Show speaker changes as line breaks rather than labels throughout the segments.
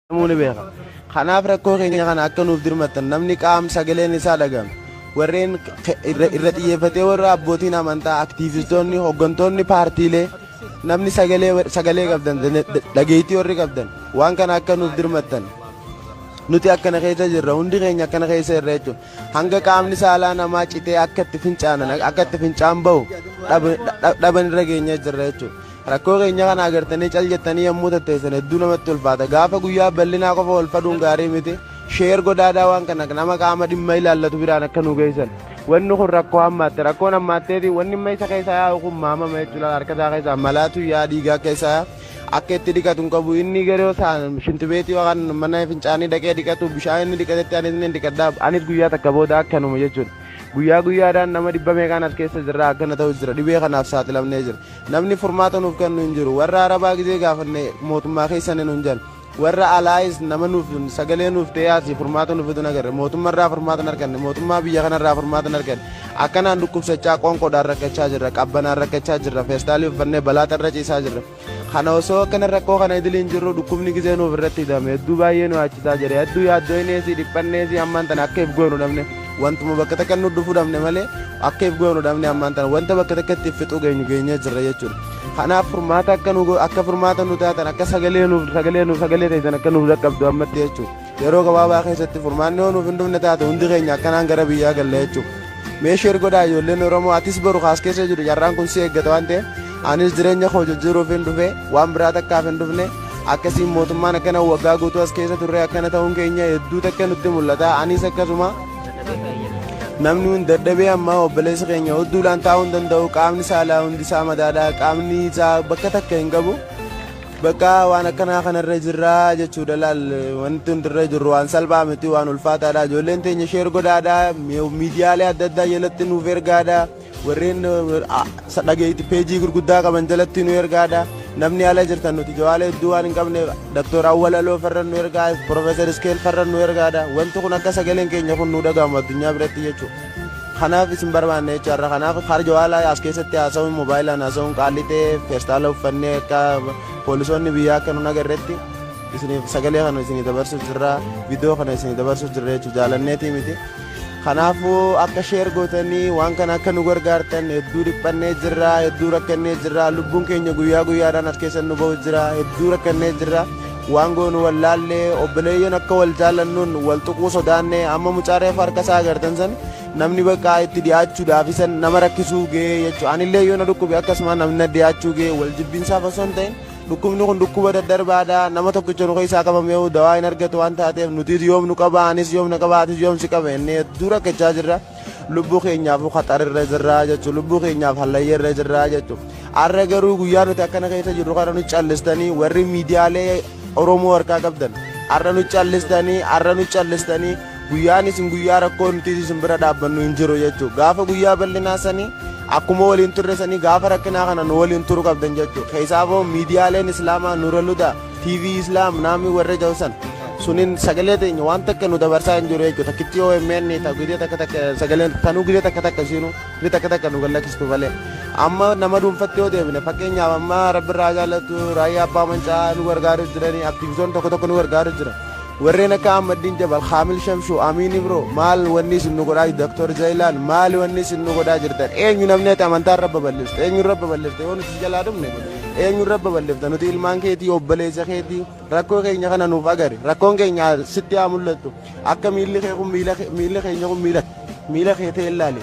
jedhamuu ni beeka. Kanaaf rakkoo keenya kana akka nuuf dirmattan namni qaam sagaleen isaa dhaga'ame warreen ke- irra irra xiyyeeffatee warra abbootiin amantaa aktiivistoonni hooggantoonni paartiilee namni sagalee war- sagalee qabdan dane- da- dhageettii warri qabdan waan kana akka nuuf dirmattan nuti akkana keessa jirra hundi keenya akkana keessa jirra jechuun hanga qaamni saalaa namaa citee akka itti fincaanan akka itti fincaan bahu dhaban irra geenyee jirra jechuudha. Rakkoo keenya kana agartanii cal jettanii yommuu tatteessan hedduu namatti ulfaata. Gaafa guyyaa bal'inaa qofa wal faduun gaarii miti. Sheer godhaadaa waan kana nama qaama dhimma ilaallatu biraan akka nu geessan. Wanni kun rakkoo hammaatte. Rakkoon hammaatteeti wanni amma isa keessa yaa'u kun maamama jechuudha. Harka isaa keessaa malaatu yaa dhiigaa akka isaa yaa. Akka itti dhiqatu hin qabu. Inni garuu isaan shintibeetii yookaan mana fincaanii dhaqee dhiqatu bishaan inni dhiqatetti anis ni dhiqadha. Anis guyyaa takka booda akkanuma jechuudha. Guyyaa guyyaadhaan nama dhibba meeqaan as keessa jirra akkana ta'u jira. Dhibee kanaaf saaxilamnee jira. Namni furmaata nuuf kennu hin jiru. Warra Arabaa gizee gaafanne mootummaa keessan hin hunjan. Warra alaayis nama nuuf sagalee nuuf ta'ee asii furmaata nuuf fidu hin agarre. Mootummaa irraa furmaata hin arganne. Mootummaa biyya kana irraa furmaata hin arganne. Akkanaan dhukkubsachaa qoonqoodhaan rakkachaa jirra. Qabbanaan rakkachaa jirra. Feestaalii uffannee balaa xarra ciisaa jirra. Kana osoo akkana rakkoo kana idilii hin jirru dhukkubni gizee nuuf irratti hidhame. Hedduu baay'ee nu yaachisaa jira. Hedduu yaaddoo hin eesii dhiphanneesii ammaan tana akka if goonu dhabne. Wantuma bakka takka nu dhufuu dhabne malee akka if goonu dhabne ammaan tana wanta bakka takka itti fixuu geenyu geenyee jirra jechuudha. Kanaaf furmaata akka nu akka furmaata nu taatan akka sagalee nuuf sagalee nuuf sagalee ta'an akka nuuf dhaqqabdu ammatti jechuudha. Yeroo gabaabaa keessatti furmaanni yoo nuuf hin dhufne taate hundi keenya akkanaan gara biyyaa galla jechuudha. Meeshee godhaa ijoolleen Oromoo atis boru kaas keessa jiru carraan kun si eeggata waan ta'eef anis jireenya koo jijjiiruuf hin dhufe waan biraa takkaaf hin dhufne akkasiin mootummaan akkana waggaa guutuu as keessa turre akkana ta'uun keenya hedduu takka nutti mul'ata anis akkasuma namni hundi dadhabee ammaa obboleessa keenya hedduudhaan taa'uu hin danda'u qaamni saalaa hundi isaa madaadha qaamni isaa bakka takka hin qabu bakka waan akkanaa kanarra jirraa jechuudha laal wanti hundi irra jirru waan salphaa miti waan ulfaataadha ijoolleen teenya sheer godhaadha miidiyaalee adda addaa jalatti nuuf ergaadha. Warreen dhageetti peejii gurguddaa qaban jalatti nu ergaadha. Namni ala jirtan nuti jawaala hedduu waan hin qabneef Dr. Awwalaloo farra nu ergaa, Profeesar Iskeel farra nu ergaadha. Wanti kun akka sagaleen keenya kun nu dhagahamu addunyaa biratti jechuudha. Kanaaf isin barbaanne jechuudha har'a kanaaf har jawaala as keessatti haasa'uun moobaayilaan haasa'uun qaalli ta'e feestaala uffannee akka poolisoonni biyyaa akka nun agarretti isiniif sagalee kana isinii dabarsuuf jirra viidiyoo kana isinii dabarsuuf jirra jechuudha jaalanneetii miti. Kanaafuu akka sheer gootanii waan kana akka nu gargaartan hedduu dhiphannee jirra, hedduu rakkannee jirra, lubbuun keenya guyyaa guyyaadhaan as keessa nu ba'u jira, hedduu rakkannee jirra. Waan goonu wallaallee obboleeyyan akka wal jaallannuun wal tuquu sodaanne amma mucaa reefa harka isaa agartan san namni bakka itti dhiyaachuudhaaf isan nama rakkisuu ga'ee jechuudha. Anillee yoo na dhukkube akkasuma namni na dhiyaachuu ga'ee wal jibbiinsaaf osoo hin ta'in Dhukkubni kun dhukkuba daddarbaadha. Nama tokkicha nu keessaa qabameehu dawaa hin argatu waan taateef nutis yoom nu qaba anis yoom na qaba atis yoom si qaba inni hedduu rakkachaa jirra. Lubbuu keenyaafuu qaxarirra jirra jechuun lubbuu keenyaaf hallayyarra jirra jechuun. Har'a garuu guyyaa nuti akkana keessa jirru kana nu callistanii warri miidiyaalee Oromoo harkaa qabdan har'a nu callistanii har'a nu callistanii Guyyaan isin guyyaa rakkoo nutis isin bira dhaabbannu hin jiru jechuu gaafa guyyaa bal'inaa sanii akkuma waliin turre sanii gaafa rakkinaa kana nu waliin turu qabdan jechuu keessaafoo miidiyaaleen islaamaa nura luda tv islaam naamii warri ta'u san sunin sagalee teenya waan takka nu dabarsaa hin jiru jechuu takkitti yoo himeen ta gidee takka takka sagaleen tanuu gidee takka takka siinu ni takka takka nu gallakistu malee amma nama dhuunfatti yoo deebine fakkeenyaaf amma rabbi irraa jaalatu raayyaa abbaa mancaa nu gargaaru jiranii aktiivitoon tokko tokko nu gargaaru jira Warreen akka Ahmaddiin Jabal, Kaamil Shamshuu, Amiin Ibro maal wanni isin nu godhaa jirtu? Dr. Zayilaan maal wanni isin nu godhaa jirtan? Eenyu namni ati amantaa irra babal'ifte? Eenyu irra babal'ifte? Yoo nuti si jalaa dhumne eenyu irra babal'ifta? Nuti ilmaan keetii, obboleessa keetii rakkoo keenya kana nuuf agari. Rakkoon keenya sitti haa mul'attu. Akka miilli kee kun miila kee- miilli keenya kun miila miila kee ta'e ilaali.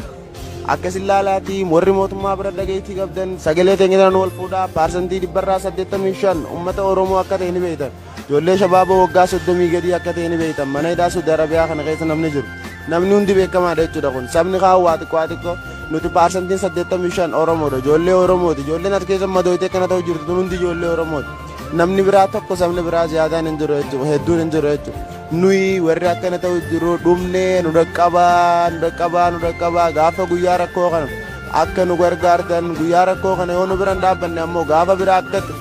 Akkasin laalaatii warri mootummaa bira dhageettii qabdan sagalee teenya nu wal fuudhaa paarsantii dhibbarraa 85 uummata Oromoo akka ta'e ni beektan. Ijoollee shabaaboo waggaa soddomii gadii akka ta'e ni beektan mana hidhaa Saudi Arabiyaa kana keessa namni jiru namni hundi beekamaadha jechuudha kun sabni kaan waa xiqqoo haa xiqqoo nuti paarsantiin saddeettamii shan Oromoodha ijoollee Oromooti ijoolleen as keessa madooytee kana ta'u jirtu hundi ijoollee Oromooti namni biraa tokko sabni biraa ziyaadaan hin jiru jechuudha hedduun hin jiru jechuudha nuyi warri akkana ta'u jiru dhumnee nu dhaqqabaa nu dhaqqabaa nu dhaqqabaa gaafa guyyaa rakkoo kana akka nu gargaartan guyyaa rakkoo kana yoo nu biran dhaabbanne ammoo gaafa biraa akkatti